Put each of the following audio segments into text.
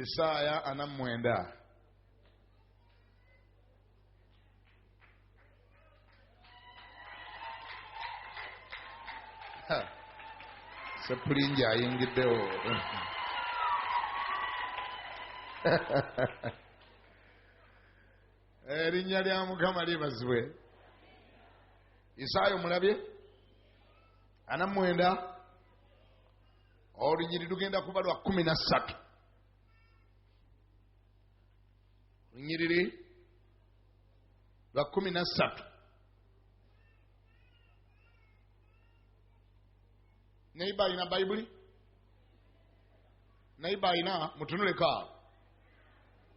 esaaya ana mwenda sepulingi ayingiddewo erinnya lya mukama libazibwe isaayo mulabye ana mwenda olunyiri lugenda kuba lwa kumi na ssatu olunyiriri lwa kumi na ssatu naiba alina bayibuli naiba alina mutunuleko awo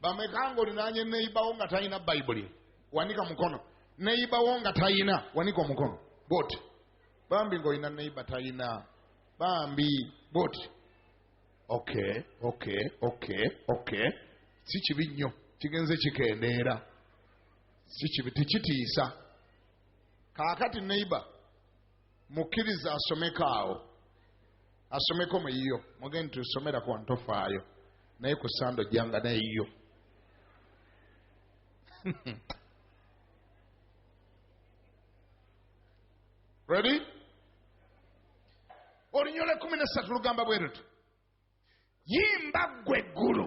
bameka nga olinanye neibawo nga talina bayibuli wanika mukono neibawo nga talina wanika omukono bwoti bambi ngaolina neiba talina bambi but ok ok ok ok si kibi nnyo kigenze kikendeera si kibi tekitiisa kaakati neighbor mukkiriza asomeko awo asomeko mu yiyo mugende tusomera ku ntofaayo naye ku sando janga nayiyo ready olunyolo ekumi nesatu lugamba bwe luti yimba ggwe eggulu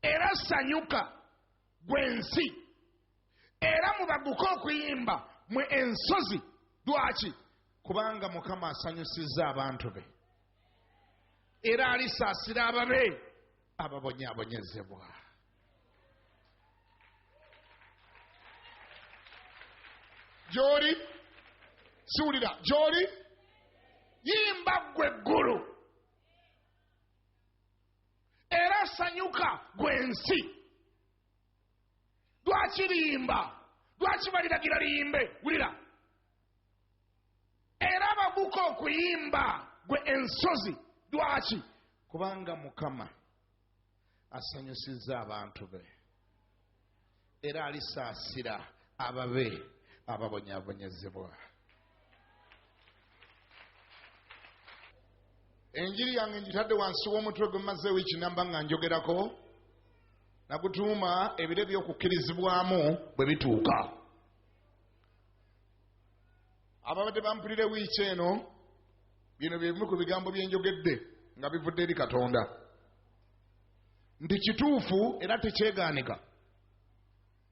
era sanyuka gwe nsi era mubaguke okuyimba mwe ensozi lwaki kubanga mukama asanyusizza abantu be era alisaasira ababe ababonyabonyezebwa gy'oli siwulira gy'oli yimba ggwe eggulu era sanyuka gwe nsi lwaki liyimba lwaki baliragira liyimbe wulira era baguka okuyimba gwe ensozi lwaki kubanga mukama asanyusizza abantu be era alisaasira ababe ababonyabonyezebwa enjiri yange njitadde wansi w'omutwe gwe maze wiiki namba nga njogerako nagutuuma ebiro ebyokukkirizibwamu bwe bituuka ababadde bampulire wiiki eno bino bye bimu ku bigambo bye njogedde nga bivudde eri katonda nti kituufu era tekyegaanika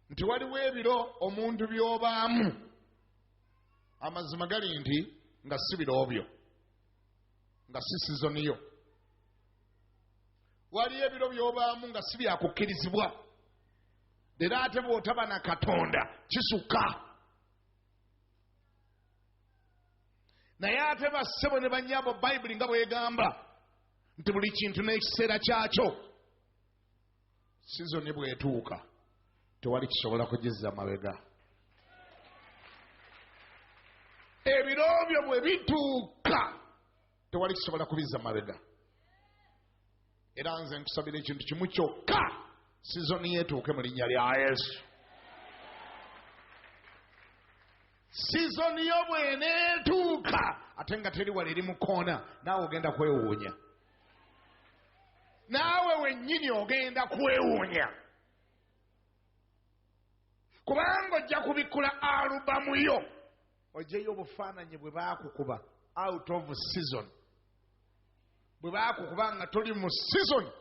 nti waliwo ebiro omuntu by'obaamu amazima gali nti nga si biroobyo nga si sizoniyo waliyo ebiro by'obaamu nga si byakukkirizibwa era ate bw'otaba na katonda kisukka naye ate bassebo ne banyabo bayibuli nga bwegamba nti buli kintu n'ekiseera kyakyo sizoni bwetuuka tewali kisobola kugizza mabega ebiro byo bwe bituuka tewali kisobola kubizza mabega era nze nkusabira ekintu kimu kyokka sizoni yetuuke mu linnya lya yesu sizoni yo bweneetuuka ate nga teri wala eri mu koona naawe ogenda kwewuunya naawe wennyini ogenda kwewuunya kubanga ojja kubikkula alubamu yo ojeyo obufaananyi bwe baakukuba out of season bwe baakukuba nga toli mu season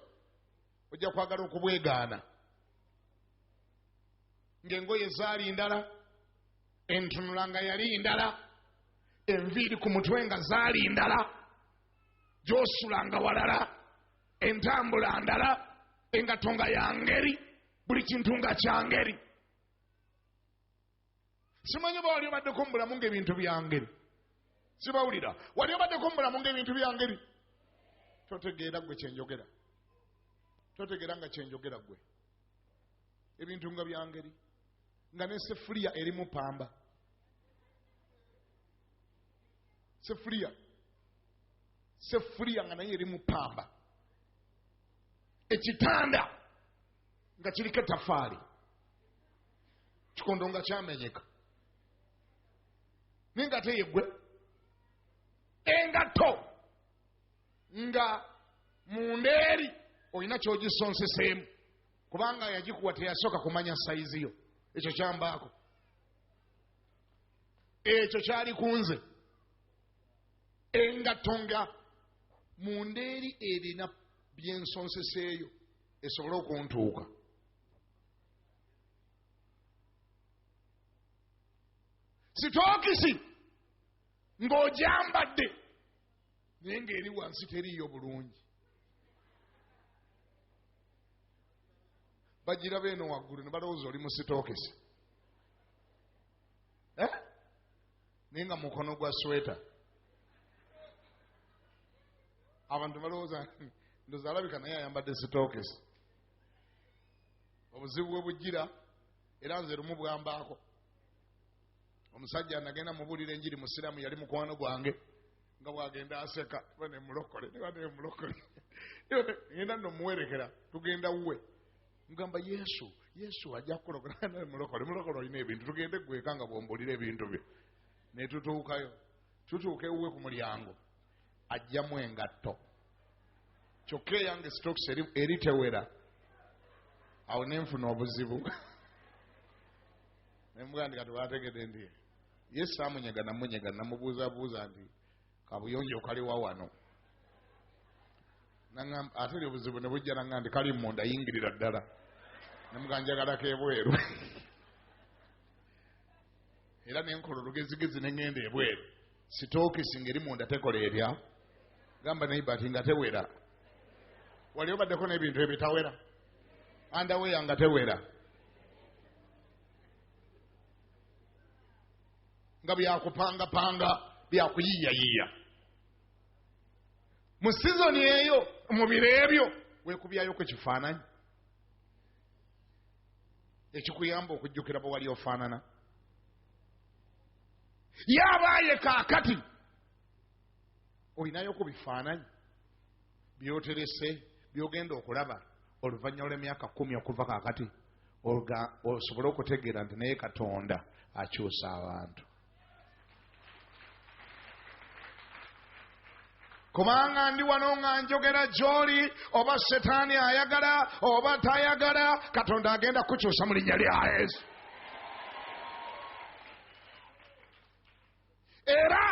ojja kwagala okubwegaana ng'engoye zaali ndala entunula nga yali ndala enviiri ku mutwe nga zaali ndala gyosula nga walala entambula ndala engato nga yangeri buli kintu nga kyangeri simanyi oba wali obaddeko mu bulamu ngaebintu byangeri sibawulira wali obaddeko mu bulamu ngaebintu byangeri totegeera gwe kyenjogera totegeera nga kyenjogera gwe ebintu nga byangeri nga nesefuliya erimu pamba sefuliya sefuliya nga naye erimu pamba ekitanda nga kiriko etafaali kikondo nga kyamenyeka naye nga teyegwe engatto nga munda eri olina kyogisonseseemu kubanga yagikuwa teyasooka kumanya sayizi yo ekyo kyambaako ekyo kyali ku nze engatto nga munda eri erina byensonseseeyo esobole okuntuuka sitookisi ng'ogyambadde naye ng'eri wansi teriiyo bulungi bagira beeno waggulu ne balowooza oli musitookese eh? naye nga mukono gwa sweta abantu balowooza ndoza alabika naye ayambadde sitookese obuzibu bwe bujjira era nze lumu bwambaako omusajja nagenda mubuulira enjiri musiraamu yali mukwano gwange nga bwagenda aseka iba nemulokole iba nemulokole genda nomuwerekera tugenda wuwe mugamba yesu yesu ajja kukulokolamulokole mulokole olina ebintu tugende gweka nga bwombulira ebintu byo netutuukayo tutuuka ewuwe ku mulyango ajjamu engatto kyokka eyange stoks eri tewera awo nenfuna obuzibu ne mugamba nti kati wategedde nti ye saamunyega namunyega namubuuzabuuza nti kabuyonjo kaliwa wano nangamba ate lyo obuzibu ne bujja nangamba nti kali munda yingirira ddala ne mugamba njagalako ebweru era ne nkola olugezigezi ne ŋŋenda ebweru sitookisi ngeri munda tekola erya gamba naye bati nga tewera wali obaddeko n'ebintu ebitawera andaweya nga tewera nga byakupangapanga byakuyiiyayiiya mu sizoni eyo mu biro ebyo wekubyayo ku kifaananyi ekikuyamba okujjukira bwe wali ofaanana yabaaye kaakati olinayo ku bifaananyi byoterese byogenda okulaba oluvannyuma lwemyaka kumi okuva kakati osobole okutegeera nti naye katonda akyusa abantu kubanga ndi wano nga njogera gyoli oba setaani ayagala oba tayagala katonda agenda kukyusa mu linnya lya yesu era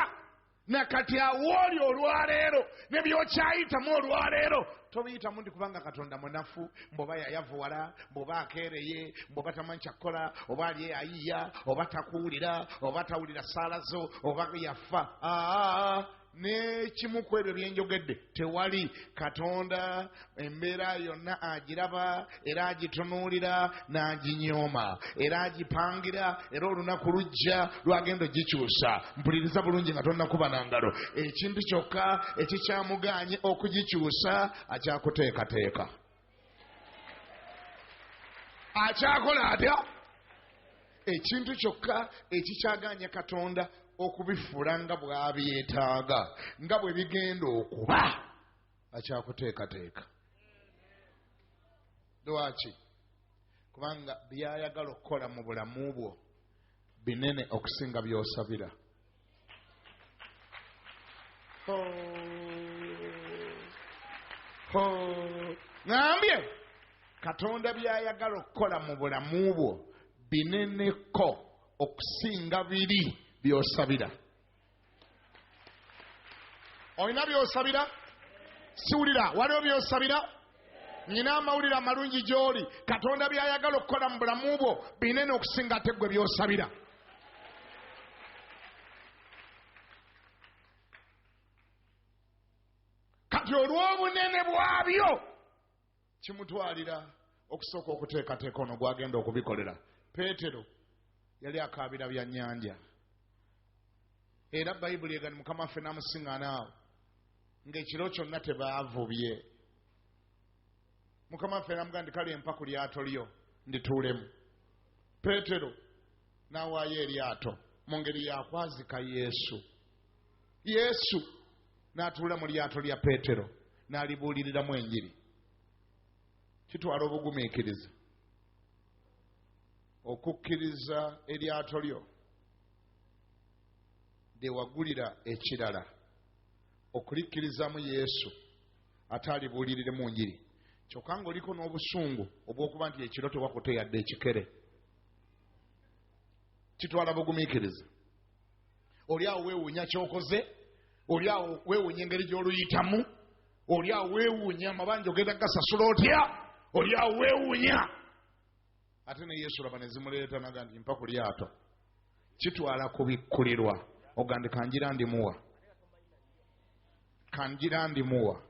Na kati awo oli olwa leero, ne by'okyayitamu olwa leero, tobiyitamu nti kubanga Katonda munafu, mbu oba yayavuwala, mbu oba akeereye, mbu oba tamanyi kya kukola, oba ali e Ayiya, oba takuwulira, oba tawulira ssaala zo, oba yafa. Aa, n'ekimu ku ebyo bye njogedde tewali. Katonda embeera yonna agiraba era agitunuulira n'aginyooma era agipangira era olunaku lujja lwagenda ogikyusa mpuliriza bulungi nga tonakuba na ngalo ekintu kyokka ekikyamuganye okugikyusa akyakuteekateeka akyakola atya ekintu kyokka ekikyaganya katonda okubifuula nga bwabyetaaga nga bwe bigenda okuba akyakuteekateeka lwaki kubanga byayagala okukola mu bulamu bwo binene okusinga byosabira ngambye katonda byayagala okukola mu bulamu bwo bineneko okusinga biri byosabira olina byosabira siwulira waliwo byosabira nyina amawulire amalungi gy'oli katonda by'ayagala okukola mu bulamu bwo binene okusinga ate ggwe by'osabira kati olw'obunene bwabyo kimutwalira okusooka okuteekateeka ono gwagenda okubikolera peetero yali akaabira bya nyanja era bayibuli egani mukama waffe namusiŋanaawo ngaekiro kyonna tebaavubye mukama waffe namuga nti kale mpa ku lyato lyo ndituulemu peetero nawaayo eryato mu ngeri yakwazika yesu yesu n'atuula mu lyato lya peetero n'alibuuliriramu enjiri kitwala obugumiikiriza okukkiriza eryato lyo lyewagulira ekirala okulikkirizamu yesu ate alibuuliriremu njiri kyokka ngaoliko n'obusungu obw'okuba nti ekiro tewakuteyadde ekikere kitwala bugumiikiriza oli awo weewuunya kyokoze oli awo weewuunya engeri gy'oluyitamu oli awo weewuunya amabanja ogenda gasasula otya oli awo weewuunya ate ne yesu laba ne zimuleeta naga nti mpa ku lyato kitwala kubikkulirwa ogandi kanjira ndimuwa kanjira ndimuwa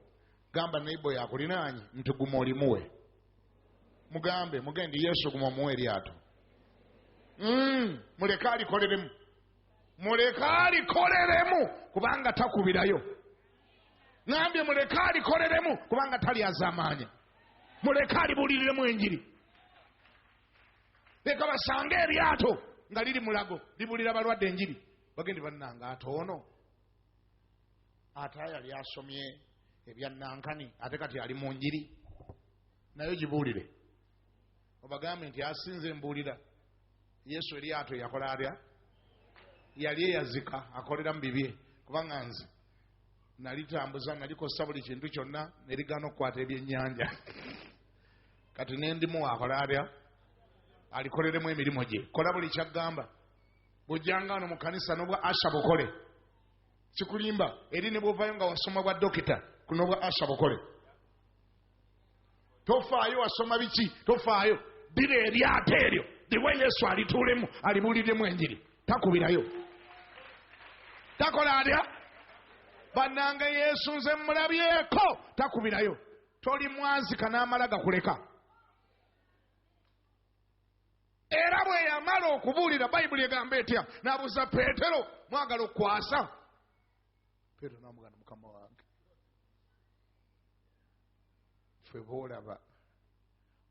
gamba naibo yakulinaanyi nti guma olimuwe mugambe mugende yesu guma omuwa eryato mm, muleke alikoleremu muleke alikoleremu kubanga takubirayo nambye muleke alikoleremu kubanga talyazamaanya muleke alibuuliremu enjiri leka basange eryato nga liri mulago libulira balwadde enjiri bagende bannanga ate ono ate yali asomye ebya nankani ate kati ali mu njiri naye gibuulire obagambe nti asinze mbuulira yesu eryato yakola atya yali eyazika akolera mu bibye kubanga nze nalitambuza nalikosa buli kintu kyonna nerigana okukwata ebyennyanja kati nendimu akola atya alikoleremu emirimu gye kola buli kyaggamba bujjanga ano mu kanisa nobwa asha bukole sikulimba eri ne bwovayo nga wasoma bwa dokita kuno bwa asa bukole tofaayo wasoma biki tofaayo dira eryato eryo liwe yesu alituulemu alibuuliremu enjiri takubirayo takola atya bannange yesu nze mulabyeko takubirayo toli mwazika n'amala gakuleka Era bwe yamala okubuulira, Bayibuli egamba etya? N'abuuza Peetero, mwagala okukwasa? Peetero n'amugana, mukama wange, ffe boolaba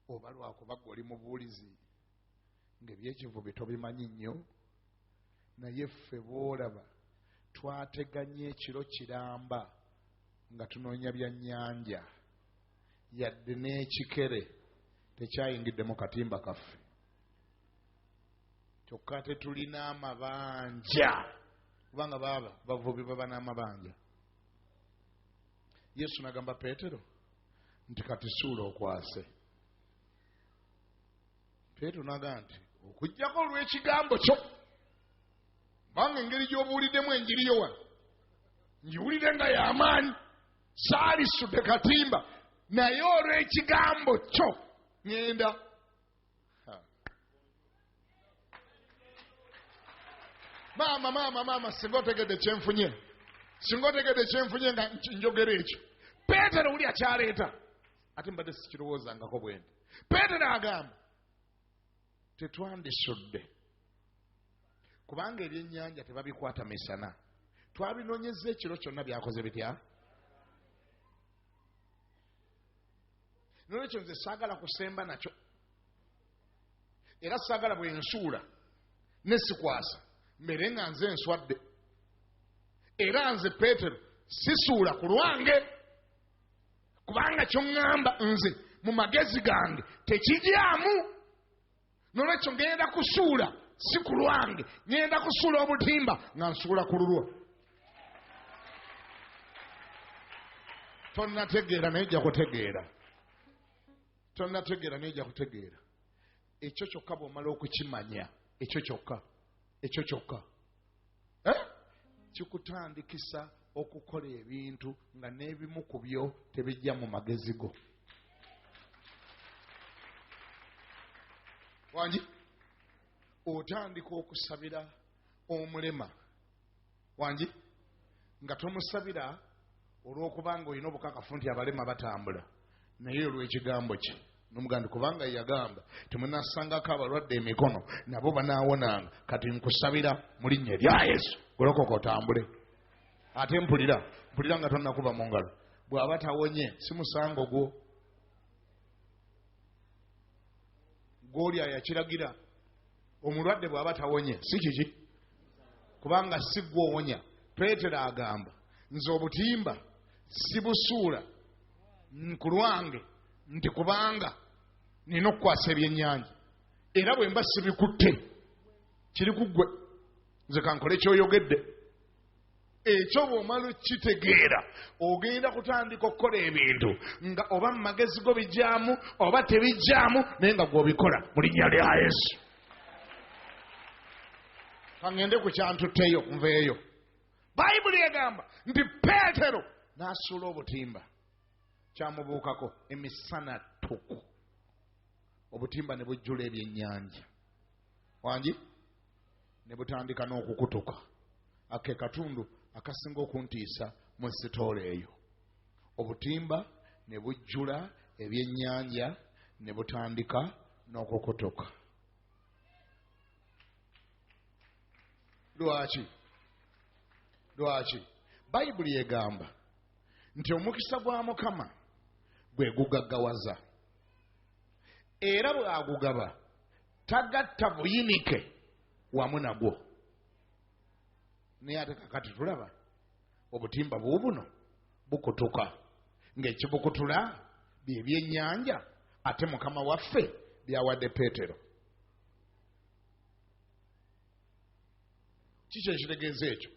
oba lwakuba gwe oli mubuulizi ng'ebyekivubi tobimanyi nnyo naye ffe boolaba twateganya ekiro kiramba nga tunoonya byannyanja yadde n'ekikere tekyayingidde mu katimba kaffe kyokka ate tulina amabanja kubanga baaba bavubi baba n'amabanja yesu nagamba peetero nti kati suula okwase peetero nagamba nti okugjako olw'ekigambo kyo kubanga engeri gy'obuuliddemu enjiri yo wano ngiwulire nga y'amaanyi saalisudde katimba naye olw'ekigambo kyo ŋenda maama maama maama singa otegedde kyenfunye singa otegedde kyenfunye nga njogera ekyo peetero wuli akyaleeta ate mbadde sikirowoozangako bwendi peetero agamba tetwandisudde kubanga ebyenyanja tebabikwata misana twabinonyeza ekiro kyonna byakoze bitya nolwekyo nze saagala kusemba nakyo era saagala bwensuula nesikwasa mbere nga nze nswadde era nze peetero sisuula ku lwange kubanga kyoŋŋamba nze mu magezi gange tekijyamu nolwekyo ŋŋenda kusuula si ku lwange ŋŋenda kusuula obutimba nga nsuula ku lulwo tonategeera naye ojja kutegeera tonategeera naye ojja kutegeera ekyo kyokka bw'omala okukimanya ekyo kyokka ekyo kyokka eh? kikutandikisa okukola ebintu nga n'ebimu ku byo tebijja mu magezi go wangi otandika okusabira omulema wangi nga tomusabira olwokuba nga olina obukakafu nti abalema batambula naye olwekigambo kye nomugandi kubanga yagamba timunasangako abalwadde emikono nabo banawonanga kati nkusabira mulinnya erya yesu golokoka otambule ate mpulira mpulira nga tonakuba mu ngalo bwaba tawonye si musango gwo gwoli ayakiragira omulwadde bw'aba tawonye si kiki kubanga si gwe owonya peetero agamba nze obutimba sibusuula ku lwange nti kubanga nina okukwasa ebyennyanja era bwe mba sibikutte kiri ku ggwe nze kankole kyoyogedde ekyo bw'omala okitegeera ogenda kutandika okukola ebintu nga oba mu magezi go bijyamu oba tebijyamu naye nga gw'obikola mu linnya lya yesu kaŋende ku kyantutteyo nveeyo bayibuli egamba nti peetero n'asuula obutimba kyamubuukako emisana ttuku obutimba ne bujjula ebyennyanja wangi ne butandika n'okukutuka ake katundu akasinga okuntiisa mu sitoola eyo obutimba ne bujjula ebyennyanja ne butandika n'okukutuka lwaki lwaki bayibuli egamba nti omukisa gwa mukama gwe gugaggawaza era bw'agugaba tagatta buyinike wamu nagwo naye ate kakati tulaba obutimba buubuno bukutuka ng'ekibukutula bye byennyanja ate mukama waffe byawadde peetero kiki ekitegeeza ekyo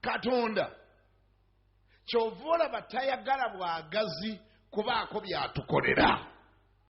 katonda Kyova olaba tayagala bwagazi kubaako byatukolera.